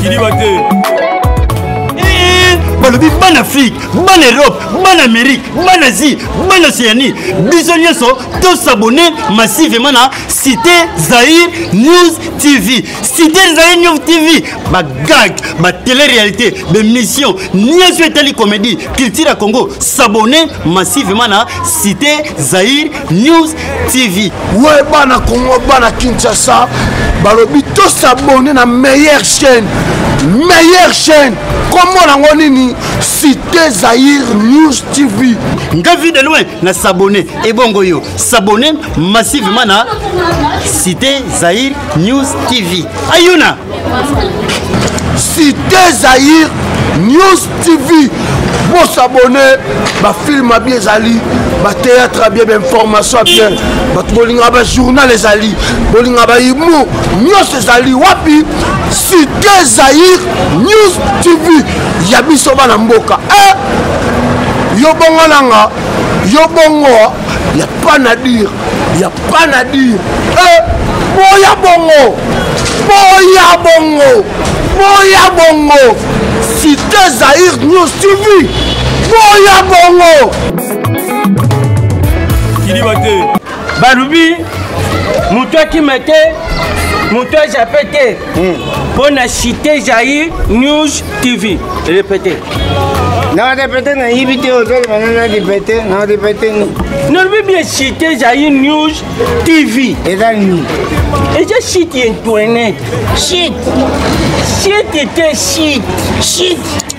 kiliba te eh, balobi bana afrike bana europe bana amérique bana asie bana océanie biso nyonso tosabone massivement na cité zaïr news tv cité zaïr news tv bagag batélé-réalité bémission nyonso etali comédie culture ya congo sabone massivement na cité zaïr News TV. Ouais, bana Congo, bana Kinshasa, balobi to s'abonner na meilleure chaîne. Meilleure chaîne. Comment nango nini Cité Zahir News TV. Nga vu de loin na s'abonner et bongo yo s'abonner massivement na Cité Zahir News TV. Ayuna Cité Zahir News TV bosabone bafilme ya bien ezali batéâtre ya bien bainformation ya bien bato bolingaka bajournal ezali bolingaka bahumour nyonso ezali wapi cité zaïr news tv ya biso bana mboka e eh! yo bongo nanga yo bongo ya pas na dire ya panadi eh, boya bongo boya bongo boya bongo site zaire news tv boya bongo kiliba te balobi moto akima te moto ajape te hmm. mpo na cité jair news tv repete naorepete nayibi te ozolema na narepete naorepete ni nalobi bien cité ezali news tv eza nini eza site ya internet site site te site site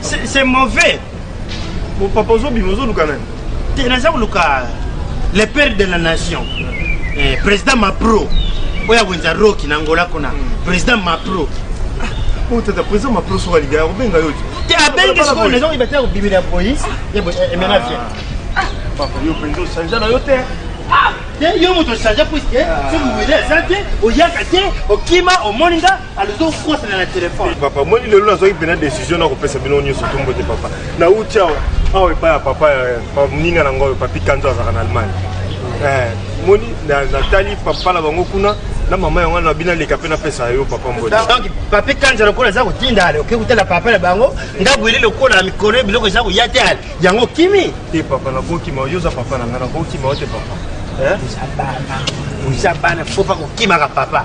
c'est mauvais bon papa ozobima ozoluka nani te naza koluka le père de la nation eh, président mapro oyo awenza roki na ngola kuna président mapro oyo tata président mapro soki alinga yakobenga yo te abengi sikoyo naza koyeba te akobimela ya boyi emena vie papa yo mpenza osanja na yo te te yo moto osanja puiske soki wele aza te oyaka te okima omoni nga azokosana na telefone papa moni lelo nazwaki mpena décision na kopesa bino nyonso tombo te papa nauti awa awa epai ya papa moninga na ngoyo papi kanzo azalaka na allemagne eh, moni natali papa na bango kuna na mama yango na bino aleka mpe napesa yo papa mbodi donc papi kanza lokola eza kotinda ale oke kotala papa na bango ndako eli lokola na mikolo biloko eza koya te ale yango okimi te papa nakokima yo oza papa na ngai nakokima yo te papa eh? oza bana oza bana fo pa kokimaka papa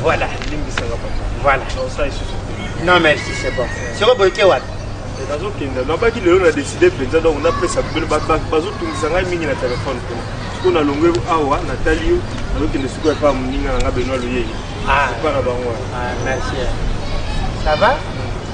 Voilà. Voilà. Non, merci, c'est bon. C'est bon, boyeke wapi nazokenda nabaki lelo na décide mpenza donc napesa bazotungisa ngai mingi na telefone kuna siko nalongwe awa natali yo nazokende siko epa moninga na ngai benoa loyeli epa na bango wana merci ça va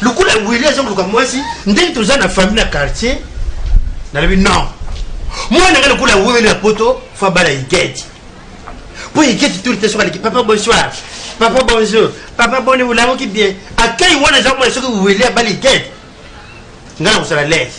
lokola wili aza koluka mwasi ndenge toza na famille na quartier nalobi non mwana nga lokola wili na poto fo abala igeti mpo igeti turi te soki aleki papa bonsoir papa bonjour papa boni olamoki bien akai wana eza komona soki wili abala igeti nga na kosala lese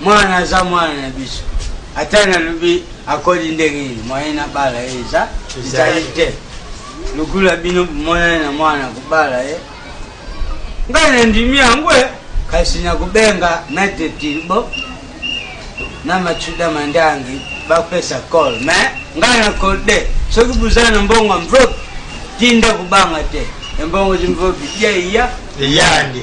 mwana aza mwana na biso ata nalobi akoli ndenge nini moyen nabala ye eza ezali te lokola bino bomonani na mwana kobala ye ngai nandimi yango e kasi nakobenga maitre tilbo na macuda mandangi bapesa col mais ngai na code soki boza na mbongo mvop tinda kobanga te embongo zimvopi yeiya eyandi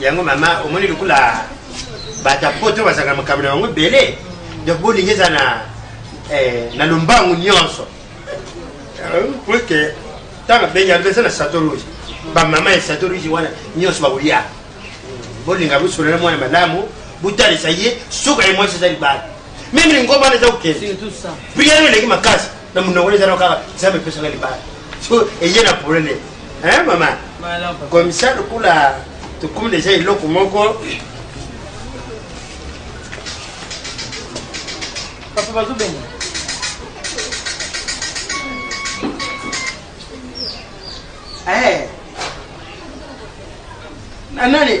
yango mama omoni lokola bato ya poto bazalaka makambo na bango ebele donc bolingi eza na eh, na lombangu nyonso euh, puiske ntango abengi alobi eza na sato rouge bamama ya sato rouge wana nyonso bakolia bolinga bosolola mwana malamu botalisa ye suka ye mwasi eza libala meme lingomba wana eza kokende priere eleki makasi na munoko eza no kaka nzambe pesaka libala so eye na problème hein mama comme ça lokola tokomi deja eloko moko papa bazobenga eh na nani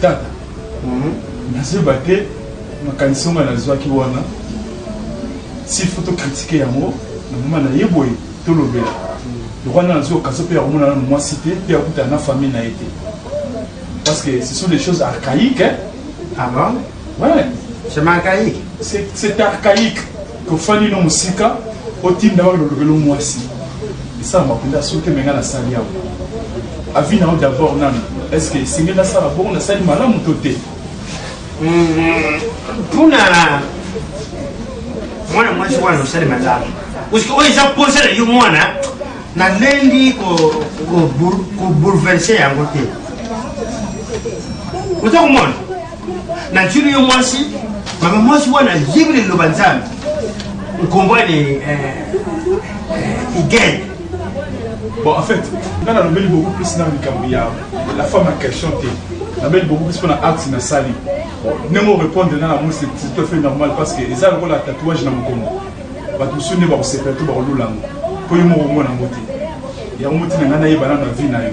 tata mhm. nazeba te makanisi onga nazwaki wana sifo tokritike yango na mama na ye boye tolobela lokola na nazwi okaso mpe ya komona nano mwasi te mpe akutana na famille na ye te parce que ce sont des choses archaïques hein? ah bon? Ouais. C'est archaïque. C'est archaïque. Kofani no musika otinda yo lolobelo mwasi. Esa makunda soki menga na sali yao. Avis na d'abord nani. Est-ce que singe na sala bon na sali malamu to te? Mm-hmm. Puna mwana mwasi wana osali malamu. Parce que oyo eza posa na yo mwana nalendi kobouleverse yango te oza komona natuni yo mwasi mama mwasi wana ayebi na liloba nzambe nkombwani eh, eh, igene bon en fait nga nalobeli beaucoup plus na likambo ya la femme ya question te nabeli beaucoup plus mpona acte nasali ndenge orépondre na yango c'est tout à fait normal parce que eza lokola tatouage na mokongo bato mosusu nde bakosepela to bakolula yango mpo yo moko omona yango te yango motina ngai nayeba nano na vie na yo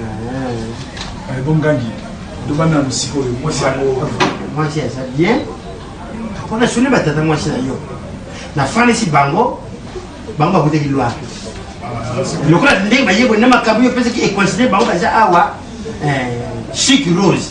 Ah. Eh, bongangi loba nanu sikoyo mwasi yango mwasi aza bien mpo nasuni batata mwasi na yo nafandisi bango bango bakutaki lwa lokola ndenge bayeboli na makambo yo mpesaki econsidere bango baza awa eh, chic rose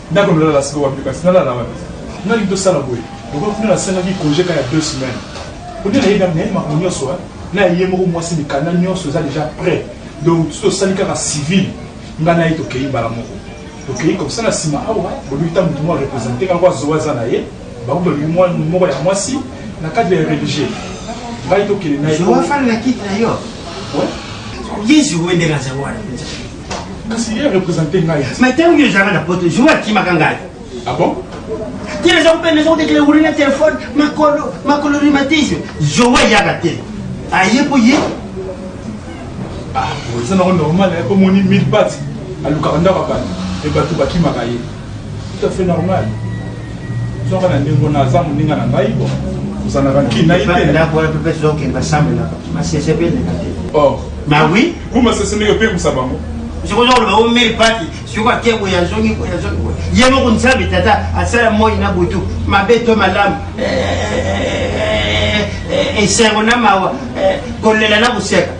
ndako nalala sika wapi kasi nalala wapi nani tosala boye lokola kuna nasengaki congé ka ya deux semaines koni nayebi nayebi makambo nyonso na ye moko mwasi mikanda nyonso eza déjà prêt donc tu tosali kaka civil ngai na ye tokei mbala moko tokei comme ça na nsima awa boluki ta motu mwa représente kaka azowa aza na ye bango balobi moko ya mwasi na cadre ya religieux ngai tokende na ye afanda na kiti na yo yezu wendela zawana kasi ye represente ngai mais ntango yo ezalaka na poto jour akimaka ngai ah bon ti eza kopenda eza kotekela wuli na telefone makolo makolo rhumatisme joe eyaka te aye mpo ye ah, eza nango normal eh, mpo moni mille bat alukaka ndako ya bato e bato bakimaka ye tout à fait normal soka na ndenge wana aza moninga na ngai bo ozalaka nkina ye te ndako wana mpe pesa okende basambelaka masese mpe eleka te or ma oui ku masese ndenge opemisa bango sikoza koloba o mei pati sikoyo ake boye azongi boye azongi boye ye moko nzambe tata asala moi na butu mabe to malamu eh, eh, eh, esengo na mawa kolela na koseka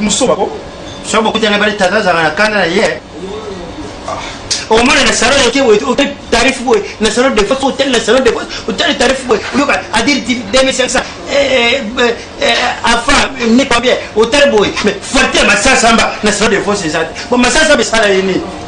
musuba ko so bokutana bale tata azalaka na kanda na ye omona na salon yoke boye ote tarif boye na salon de fos otali na salon de fos otali tarif boye oyoka adiri 2500 afa ne combien otali boye mais forte masasamba na salon de fos eza te bon masasamba esala ye nini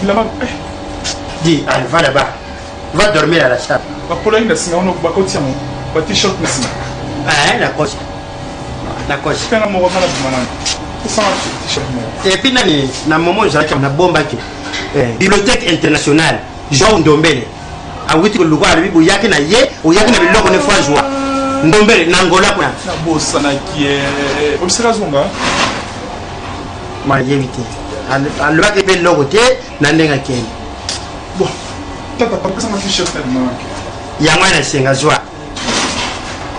bilamba eh. di ah, va là-bas va dormir à la salle bakolaki na nsima wana bakotia mo ba t-shirt na nsima eh, nakosi nakosi mpe na moko nga nabima nani osanga t-shirt moko epuis nani na momo ezalaki nabombaki eh, bibliothèque internationale jean ndombele awiti koluka alobi boyaki na ye oyaki na biloko ne fo azwa ndombele na ngola kuna nabosanaki obisaka azonga mayebi te alobaki mpe eloko te na ndenge akei bon tata papesanga tu chef talimanaki yango wana esenga zwa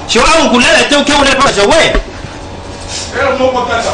so awo kulala te oke olala papa zowe moko tata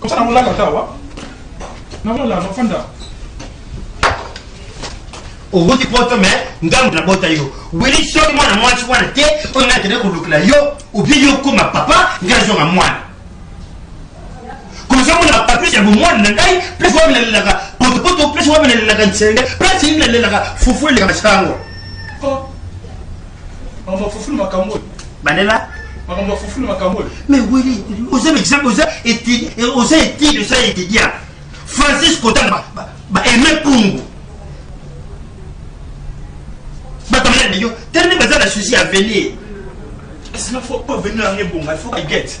Comme ça, on l'a gâté, ouais. Non, non, là, non, fanda. owuti poto me ngambo na bota yo wili soki mwana mwasi wana te oyo ngai akende kolukela yo obi yo okoma papa ngai azonga mwana komisa mona papis ya bomwana na ngai place wapi nalelaka potopoto place wapi nalelaka nsende place nini nalelaka fufu eleka masango Oh. On va foufoule ma camoufle. bandela makambo ya fufu na makambo oyo mais wili oza exemple oza étude oza étude oza étudiant francis kotanga ba aime pungu batamela na yo tellement baza na souci ya avenir esina faut avenir yango ebonga il faut bagete